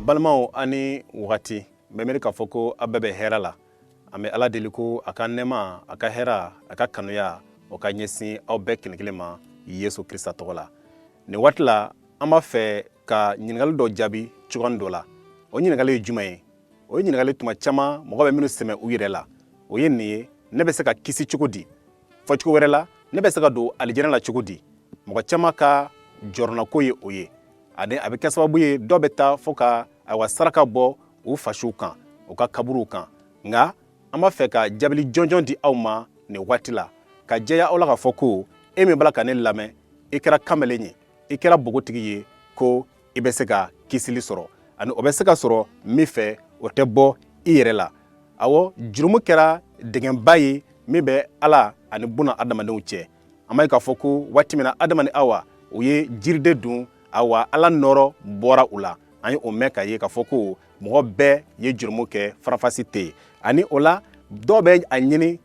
balimaw aw ni wagati n bɛ miiri k'a fɔ ko aw bɛɛ bɛ hɛrɛ la an bɛ ala deli ko a ka nɛɛma a ka hɛra a ka kanuya o ka ɲɛsin aw bɛɛ kelen kelen ma yesu krista tɔgɔ la nin waati la an b'a fɛ ka ɲininkali dɔ jaabi cogoyanin dɔ la o ɲininkali ye juman ye o ye ɲininkali tuma caman mɔgɔ bɛ minnu sɛmɛ u yɛrɛ la o ye nin ye ne bɛ se ka kisi cogo di fɔcogo wɛrɛ la ne bɛ se ka don alijɛnɛ la cogo di mɔgɔ caman ka jɔrɔnako ye o ye ani a bɛ kɛ sababu ye dɔ bɛ taa fo ka ayiwa saraka bɔ u fasuw kan u ka kaburuw kan nka an b'a fɛ ka jaabili jɔnjɔn di aw ma nin waati la k'a jɛya aw la k'a fɔ ko e min b'a la ka ne lamɛn i kɛra kamalen ye i kɛra bogotigi ye ko i bɛ se ka kisili sɔrɔ ani o bɛ se ka sɔrɔ min fɛ o tɛ bɔ i yɛrɛ la awɔ jurumu kɛra dingɛba ye min bɛ ala ani buna adamadenw cɛ an b'a ye k'a fɔ ko waati min na adama ni awa u ye jiriden dun awa ala nɔrɔ bɔra u la an ye o mɛn k'a ye k'a fɔ ko mɔgɔ bɛɛ ye jurumu kɛ faranfasi tɛ yen ani o la dɔw bɛ a ɲini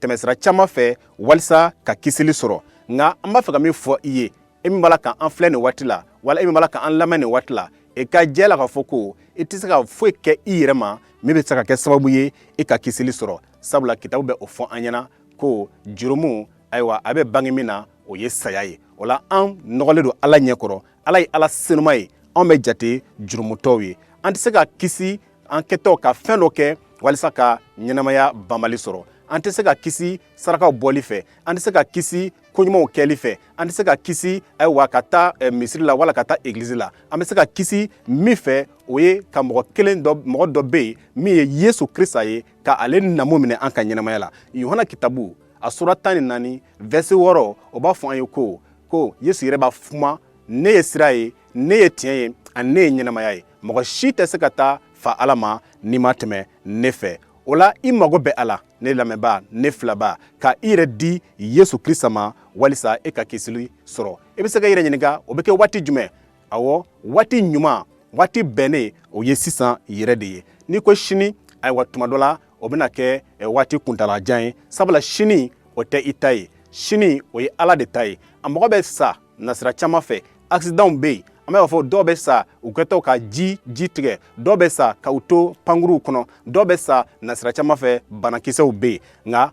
tɛmɛsira caman fɛ walisa ka kisili sɔrɔ nka an b'a fɛ ka min fɔ i ye e min b'a la k'an filɛ nin waati la wala e min b'a la k'an lamɛn nin waati la i e ka jɛ la k'a fɔ ko i tɛ se ka foyi kɛ i yɛrɛ ma min bɛ se ka kɛ sababu ye i ka kisili sɔrɔ sabula kitabu bɛ o fɔ an ɲɛna ko jurumu ayiwa a bɛ bange min na o ye saya ye o la an nɔgɔlen don ala ɲɛ kɔrɔ ala ye ala senuma ye anw bɛ jate jurumutɔw ye an tɛ se ka kisi an kɛtɔ ka fɛn dɔ kɛ walisa ka ɲɛnamaya banbali sɔrɔ an tɛ se ka kisi sarakaw bɔli fɛ an tɛ se ka kisi ko ɲumanw kɛli fɛ an tɛ se ka kisi ayiwa ka taa eh, misiri la wala ka taa egilizi la an bɛ se ka kisi min fɛ o ye ka mɔgɔ kelen dɔ mɔgɔ dɔ bɛ yen min ye yesu krista ye ka ale namu minɛ an ka ɲɛnamaya la yohana kitabu a sura tan ni naani vɛrse wɔɔrɔ o b'a fɔ an ye ko ko yesu yɛrɛ b'a fɔ u ma ne ye sira ye ne ye tiɲɛ ye ani ne ye ɲɛnamaya ye mɔgɔ si tɛ se ka taa fa ala ma n'i ma tɛmɛ ne fɛ o la i mago bɛ a la ne lamɛnbaa ne filɛbaa ka i yɛrɛ di yesu krista ma walisa e ka kisili sɔrɔ i bɛ se ka i yɛrɛ ɲininka o bɛ kɛ waati jumɛn awɔ waati ɲuman waati bɛnnen o ye sisan yɛrɛ de ye n'i ko sini ayiwa tuma dɔ la o bɛna kɛ waati kuntaalajan ye sabula sini o tɛ i ta ye sini o ye ala de ta ye a mɔgɔ bɛ sa nasira caman fɛ akisidanw bɛ yen an b'a fɔ dɔw bɛ sa u kɛtɔ ka ji ji tigɛ dɔw bɛ sa ka u to pankuruw kɔnɔ dɔw bɛ sa nasira caman fɛ banakisɛw bɛ yen nka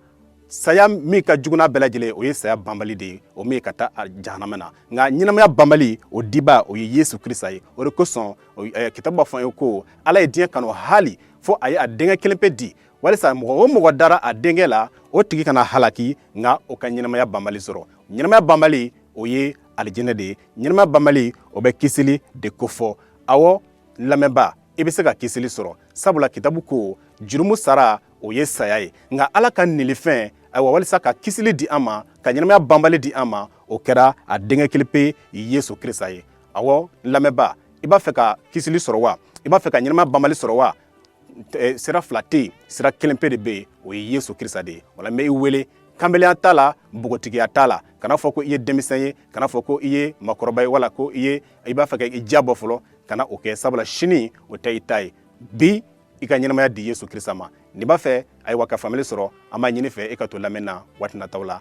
saya min ka jugu n'a bɛɛ lajɛlen o ye saya banbali de ye o min ka taa jahanama na nka ɲɛnamaya banbali o dibaa o ye yesu krista ye o de kosɔn eh, kitabu b'a fɔ an ye ko ala ye diɲɛ kanu hali fo a ye a denkɛ kelen pe di walisa mɔgɔ o mɔgɔ dara a denkɛ la o tigi kana halaki nka o ka ɲɛnamaya banbali sɔrɔ ɲɛnamaya banbali o ye alijinɛ de ye ɲɛnamaya banbali o bɛ kisili de kofɔ awɔ lamɛnba i bɛ se ka kisili sɔrɔ sabula kitabu ko jurumu sara o ye saya ye nka ala ka nilifɛn ayiwa walisa ka kisili di an ma ka ɲɛnamaya banbali di an ma o kɛra a denkɛ kelen pe yesu krista ye awɔ lamɛnba i b'a fɛ ka kisili sɔrɔ wa i b'a fɛ ka ɲɛnamaya banbali sɔrɔ wa eh, sira fila tɛ yen sira kelen pe de bɛ yen o ye yesu krista de ye wala n bɛ i wele kanbelenya t'a la npogotigiya t'a la kana fɔ ko i ye denmisɛn ye kana fɔ ko i ye makɔrɔba ye wala ko i ye i b'a fɛ ka i diya bɔ fɔlɔ kana o kɛ sabula sini o tɛ i ta ye bi i ka ɲɛnamaya di yesu krista ma n'i b'a fɛ ayiwa ka faamuyali sɔrɔ an b'a ɲini i fɛ i ka to lamɛn na waati nataw la